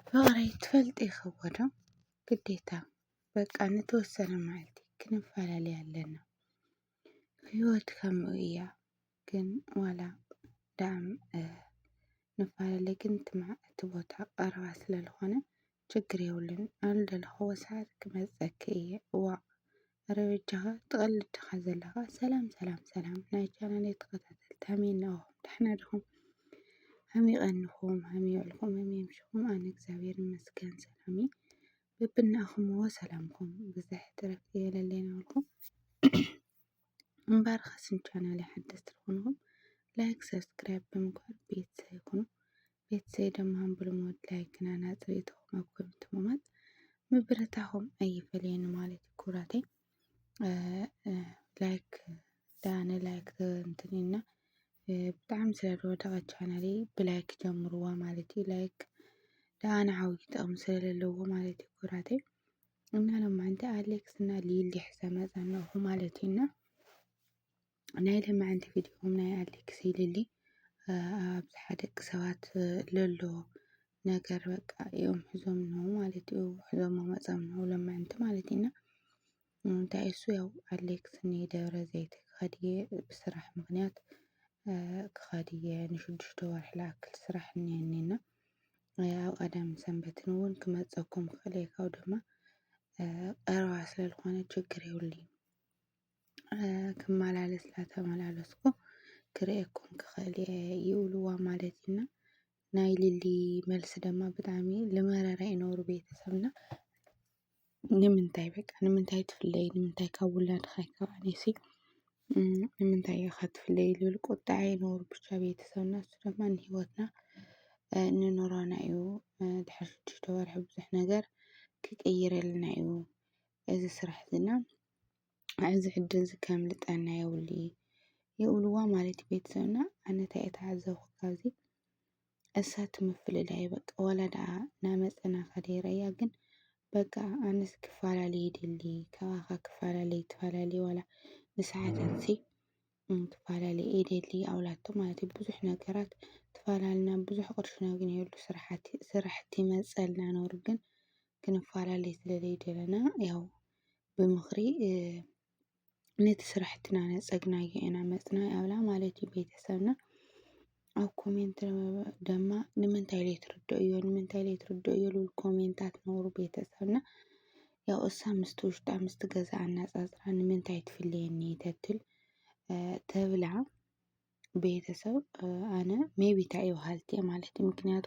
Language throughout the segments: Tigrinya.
ፍቕሪ ትፈልጢ ይኸቦ ዶ? ግዴታ በቃ ንተወሰነ መዓልቲ ክንፈላለይ ኣለና። ህይወት ከምኡ እያ ግን ዋላ ዳኣም ንፋለለ ግን እቲ ቦታ ቀረባ ስለልኾነ ችግር የብሉን። ኣብ ልደለኹዎ ሰዓት ክመፀኪ እየ እዋእ ኣረ በጃኻ ትቀልድ ዲኻ ዘለኻ ሰላም ሰላም ሰላም ናይ ቻናለይ ተኸታተልቲ ከመይ እነኹም ደሕና ዲኹም ከመይ ቀንኹም ከመይ ውዕልኩም ከመይ ምሽኹም ኣነ እግዚኣብሔር ይመስገን ሰላም እየ በብናእኹምዎ ሰላምኩም ብዝሕ ትረፍ የለለይ ናበልኩም እምበር ከስም ቻናለይ ሓደስቲ ዝኾንኹም ላይክ ሰብስክራይብ ብምግባር ቤተሰብ ይኹኑ ቤተሰይ ደማም ብልሙድ ላይክና ናጽሪኢቶኹም ኣብ ኮሜንት ምማት ምብረታኹም ኣይፈለየኒ ማለት እዩ ኩራተይ ላይክ ዳነ ላይክ እንትን እና ብጣዕሚ ስለ ዝወደቐ ቻናሌ ብላይክ ጀምርዋ ማለት እዩ ላይክ ደኣነ ዓብዪ ጥቕሚ ስለለዎ ማለት እዩ ኩራተይ እና ሎማንቲ ኣሌክስ እና ሊሊ ሕዘ መፀናኹ ማለት እዩ እና ናይ ለማዕንቲ ቪድዮኹም ናይ ኣሌክስ ኢሊሊ ኣብዝሓ ደቂ ሰባት ለሎ ነገር በቃ እዮም ሒዞም ነው ማለት እዩ ሒዞሞ መፀም ነው ለማዕንቲ ማለት ኢና እንታይ እሱ ያው ኣሌክስ ንደብረ ዘይት ክኸድየ ብስራሕ ምክንያት ክኸድየ ንሽዱሽተ ወርሒ ልኣክል ስራሕ እኒሀኒና ኣብ ቀዳም ሰንበትን እውን ክመፀኩም ክኽእል እየ ካብ ድማ ቀረባ ስለዝኾነ ችግር የብሉን ክመላለስ እናተመላለስኩ ክርእየኩም ክኽእል እየ ይብልዋ ማለት እዩ እና ናይ ሊሊ መልሲ ድማ ብጣዕሚ ልመረረ እዩ ነሩ ቤተሰብና ንምንታይ በቃ ንምንታይ ትፍለይ ንምንታይ ካብ ውላድኺ ኣይከፋእንሲ ንምንታይ ኢኻ ትፍለይ ዝብል ቁጥዐ እዩ ነሩ ብቻ ቤተሰብና እሱ ድማ ንሂወትና ንኑሮና እዩ ድሕሪ ሽዱሽተ ወርሒ ብዙሕ ነገር ክቅይረልና እዩ እዚ ስራሕ እዚ እና ኣብዚ ሕድሪ እዚ ከምልጠና የብሉ የብልዋ ማለት እዩ ቤተሰብና ኣነ ታይ ተዓዘብኩ ካብዚ እሳቱ ምፍልላይ በቃ ዋላ ድኣ ናመፀና ከደይረያ ግን በቃ ኣነስ ክፋላለ ይደሊ ካባካ ክፋላለይ ትፋላለይ ዋላ ንስሓታት ሲ ክፋላለ ይደሊ ኣብላቶ ማለት እዩ። ብዙሕ ነገራት ተፋላልና ብዙሕ ቅርሺ ነግንየሉ ስራሓት ስራሕቲ ይመፀልና ነይሩ ግን ክንፋላለ ስለ ዘይደለና ያው ብምኽሪ ነቲ ስራሕትና ነፀግናዮ ኢና መፅና ኣብላ ማለት እዩ ቤተሰብና። ኣብ ኮሜንት ደማ ንምንታይ ዘይትርድእዮ ንምንታይ ዘይትርድእዮ ዝብል ኮሜንታት ነውሪ ቤተሰብና ያው እሳ ምስቲ ውሽጣ ምስቲ ገዝኣ ኣነጻጽራ ንምንታይ ትፍልየኒ ተትል ተብላ ቤተሰብ ኣነ ሜይቢ ተይ በሃልቲ እየ ማለት እዩ ምክንያቱ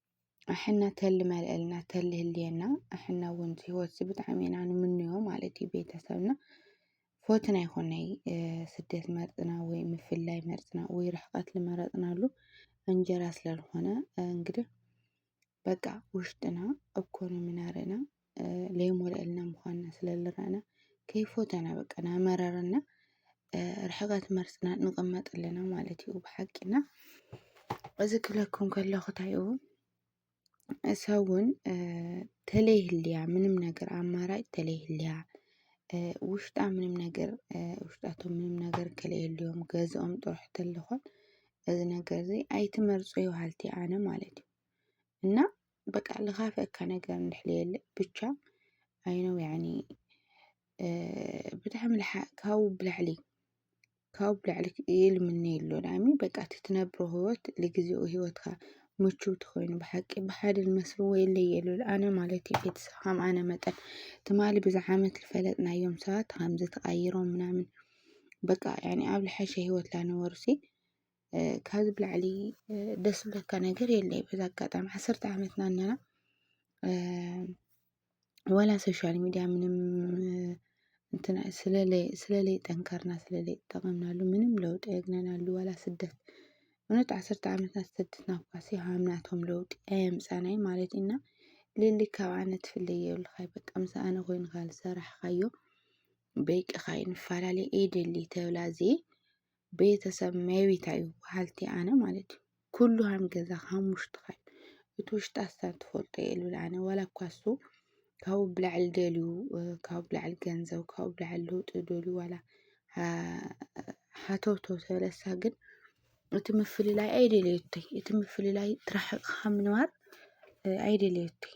ኣሕና ተሊ መልእልና ተሊ ህልየና ኣሕና እውን ህይወት ብጣዕሚ ኢና ንምንዮ ማለት እዩ ቤተሰብና ፎትን ኣይኮነይ ስደት መርፅና ወይ ምፍላይ መርፅና ወይ ርሕቀት ልመረፅናሉ እንጀራ ስለልኾነ እንግዲህ በቃ ውሽጥና እኮ ነው ምናረና ለይሞልአልና ምዃና ስለ ልረኣና ከይፎተና በቃ ናመረረና ርሕቐት መርጽና ንቕመጥ ኣለና ማለት እዩ ብሓቂና እዚ ክብለኩም ከለኹ እንታይ እዩ እሰብ እውን ተለይህልያ ምንም ነገር ኣማራጭ ተለይህልያ ውሽጣ ምንም ነገር ውሽጣቶም ምንም ነገር ከለየልዮም ገዝኦም ጥራሕ ተለኾን እዚ ነገር እዚ ኣይትመርጹ ይበሃልቲ ኣነ ማለት እዩ እና በቃ ልኻፈካ ነገር እንድሕልየለ ብቻ ኣይነው ያኒ ብጣዕሚ ካብኡ ብላዕሊ ካብኡ ብላዕሊ ይልምነ የሎ ዳኣሚ በቃ እቲ ትነብሮ ህይወት ልግዜኡ ህይወትካ ምችው ተኾይኑ ብሓቂ ብሓደ ዝመስልዎ የለይ የሉ ኣነ ማለት እዩ ቤተሰብ ከም ኣነ መጠን ትማሊ ብዛ ዓመት ዝፈለጥናዮም ሰባት ከምዚ ተቐይሮም ምናምን በቃ ያኒ ኣብ ልሐሸ ህይወት ላነወርሲ ካብዚ ብላዕሊ ደስ ዝብለካ ነገር የለይ በዚ ኣጋጣሚ ዓሰርተ ዓመትና ኣለና ዋላ ሶሻል ሚድያ ምንም እንትን ስለለይ ስለለይ ጠንከርና ስለለይ ጠቐምናሉ ምንም ለውጢ የግነናሉ ዋላ ስደት እውነት ዓሰርተ ዓመትና ዝተደትና እኳሲ ሃምናቶም ለውጢ ኣየምፃናይ ማለት ኢና ልሊ ካብ ኣነ ትፍለይ የብልኻይ በቃ ምስ ኣነ ኮይንካ ዝሰራሕኻዮ በይቅኻ ይንፈላለ እየ ደሊ ተብላ እዚየ ቤተሰብ መቤት ኣዩ በሃልቲ ኣነ ማለት እዩ ኩሉ ሃም ገዛ ሃም ውሽጥኻ እዩ እቲ ውሽጢ ኣሳብ ትፈልጦ እየ ልብል ኣነ ዋላ እኳ እሱ ካብኡ ብላዕሊ ደልዩ ካብኡ ብላዕሊ ገንዘብ ካብኡ ብላዕሊ ለውጢ ደልዩ ዋላ ሃተውተው ተበለሳ ግን እቲ ምፍልላይ ኣይደለየቶይ እቲ ምፍልላይ ትራሕቕኻ ምንባር ኣይደለየቶይ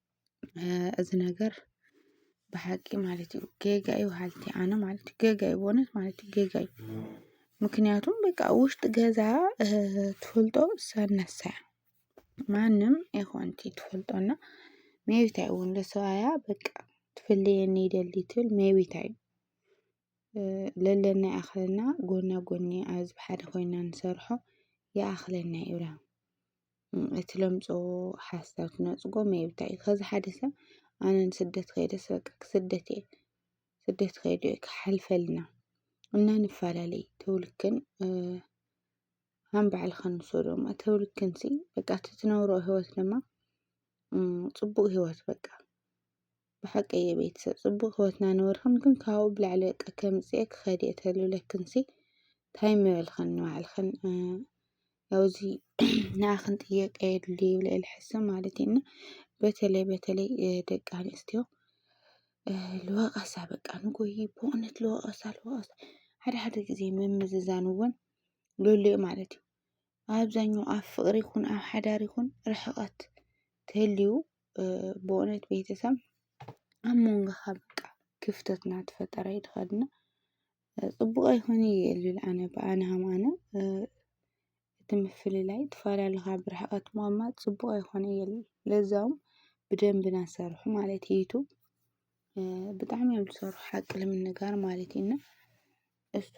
እዚ ነገር ብሓቂ ማለት እዩ ጌጋ እዩ በሃልቲ እየ ኣነ ማለት እዩ ጌጋ እዩ በእውነት ማለት እዩ ጌጋ እዩ ምክንያቱም በቃ ኣብ ውሽጢ ገዛ ትፈልጦ ሰብ ነሳ እያ ማንም ይኩን እቲ ትፈልጦ እና መይቢታይ እውን ንሰብኣያ በቃ ትፍለየኒ ይደሊ ትብል መይቢታይ ለለና ይኣክለና ጎና ጎኒ ኣብዚ ሓደ ኮይና ንሰርሖ ይኣክለና እዩ ይብላ። እቲ ለምጾ ሓሳብ ክነጽጎ መይብታይ እዩ ከዚ ሓደ ሰብ ኣነ ንስደት ከይደ ስበቂ ክስደት እየ ስደት ከይደ እየ ክሓልፈልና እና ንፈላለይ ተውልክን ሃም ባዕልኸን ንሶ ዶማ ተውልክን ሲ በቃ እቲ ትነብሮ ህይወት ድማ ጽቡቅ ህይወት በቃ ብሓቂ እየ ቤተሰብ ጽቡቅ ህወትና ነበርክን ግን ካብኡ ብላዕሊ በቃ ከምጽኤ ክኸድ እየ ተልብለክንሲ ታይ ምበልክን ንባዕልክን ያው እዚ ንኣኽን ጥየቀ የድሊ ይብል እየ ልሕስብ ማለት እዩ እና በተለይ በተለይ ደቂ ኣንስትዮ ልወቀሳ በቃ ንጎይ ብእውነት ልወቀሳ ልወቀሳ ሓደ ሓደ ግዜ ምምዝዛን እውን ልህሉ እዩ ማለት እዩ ኣብዛኛው ኣብ ፍቅሪ ይኹን ኣብ ሓዳር ይኹን ርሕቐት ተልዩ ብእውነት ቤተሰብ ኣብ መንጎኻ በቃ ክፍተት እናተፈጠረ እዩ ዝኸድና ፅቡቅ ኣይኮን እዩ የልብል ኣነ ብኣነ ሃም ኣነ እቲ ምፍልላይ ትፋላልኻ ብርሕቐት ምቅማጥ ፅቡቅ ኣይኮን እዩ የልብል ለዛውም ብደንቢ ናሰርሑ ማለት ይቱ ብጣዕሚ እዮም ዝሰርሑ ሓቂ ልምንጋር ማለት እዩ እና እሱ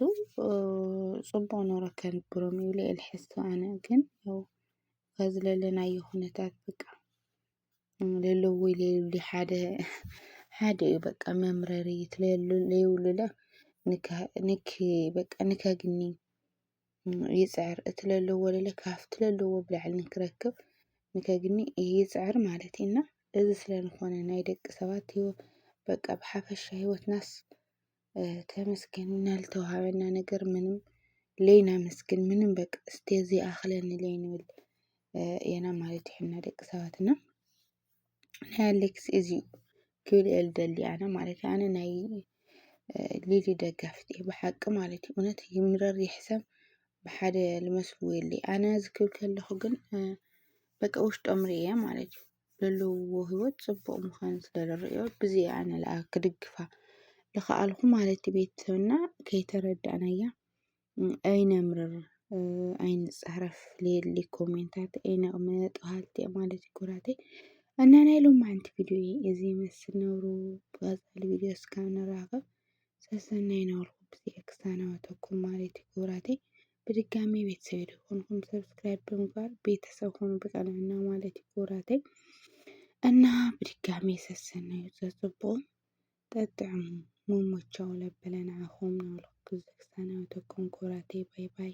ጽቡቕ ኑሮ ከንብሮም ይብለ ኢየ ልሓስብ ኣነ ግን ያው በዚ ለለናዮ ኩነታት በቃ ለለዉ ለይብሉ ሓደ ሓደ ኢዩ በቃ መምረሪ እቲ ለሉ ለይብሉለ ንካ ንኪ በቃ ንከግኒ ይጽዕር እቲ ለለዎ ለለ ካብቲ ለለዎ ብላዕሊ ንክረክብ ንከግኒ ይጽዕር ማለት ኢዩ እና እዚ ስለ ዝኾነ ናይ ደቂ ሰባት ሂወት በቃ ብሓፈሻ ሂወትናስ ተመስገን ናልተውሃበና ነገር ምንም ለይናመስግን ምንም በቃ እስቲ ዘይኣኽለኒ ለይንብል ኤና ማለት ይሕና ደቂ ሰባት እና ናይ ኣሌክስ እዚዩ ክብል እየ ልደሊ ኣነ ማለት ኣነ ናይ ሊሊ ደጋፍት እየ ብሓቂ ማለት እዩ እውነት ይምረር ይሕሰም ብሓደ ልመስልዎ የለ ኣነ ዝክብል ከለኹ ግን በቃ ውሽጦም ርእየ ማለት እዩ ዘለውዎ ህይወት ፅቡቕ ምዃኑ ስለዝርእዮ ብዚ እየ ኣነ ለኣ ክድግፋ ልኸኣልኹ ማለት እዩ። ቤተሰብና ከይተረዳእናያ ኣይነምርር ኣይንፃረፍ ሌሊ ኮሜንታት ኣይነቕምጥ በሃልቲ እዮም ማለት እዩ ኩራተይ እና ናይ ሎማዓንቲ ቪድዮ እዚ ይመስል ነብሩ ብቐፃሊ ቪድዮ እስካብ ንራኸብ ሰሰናይ ነበርኩ ብዚ ክሳናወተኩም ማለት እዩ ክቡራተይ ብድጋሚ ቤተሰብ የደኮንኩም ሰብስክራይብ ብምግባር ቤተሰብ ሆኑ ብቀንዕና ማለት እዩ ክቡራተይ እና ብድጋሚ ሰሰናዩ ዘፅቡቁ ጠጥዕሙ መሞቻው ለበለ ንዓኹም ናብልኹ ክዝክሳናዊ ተኩም ክቡራተይ ባይ ባይ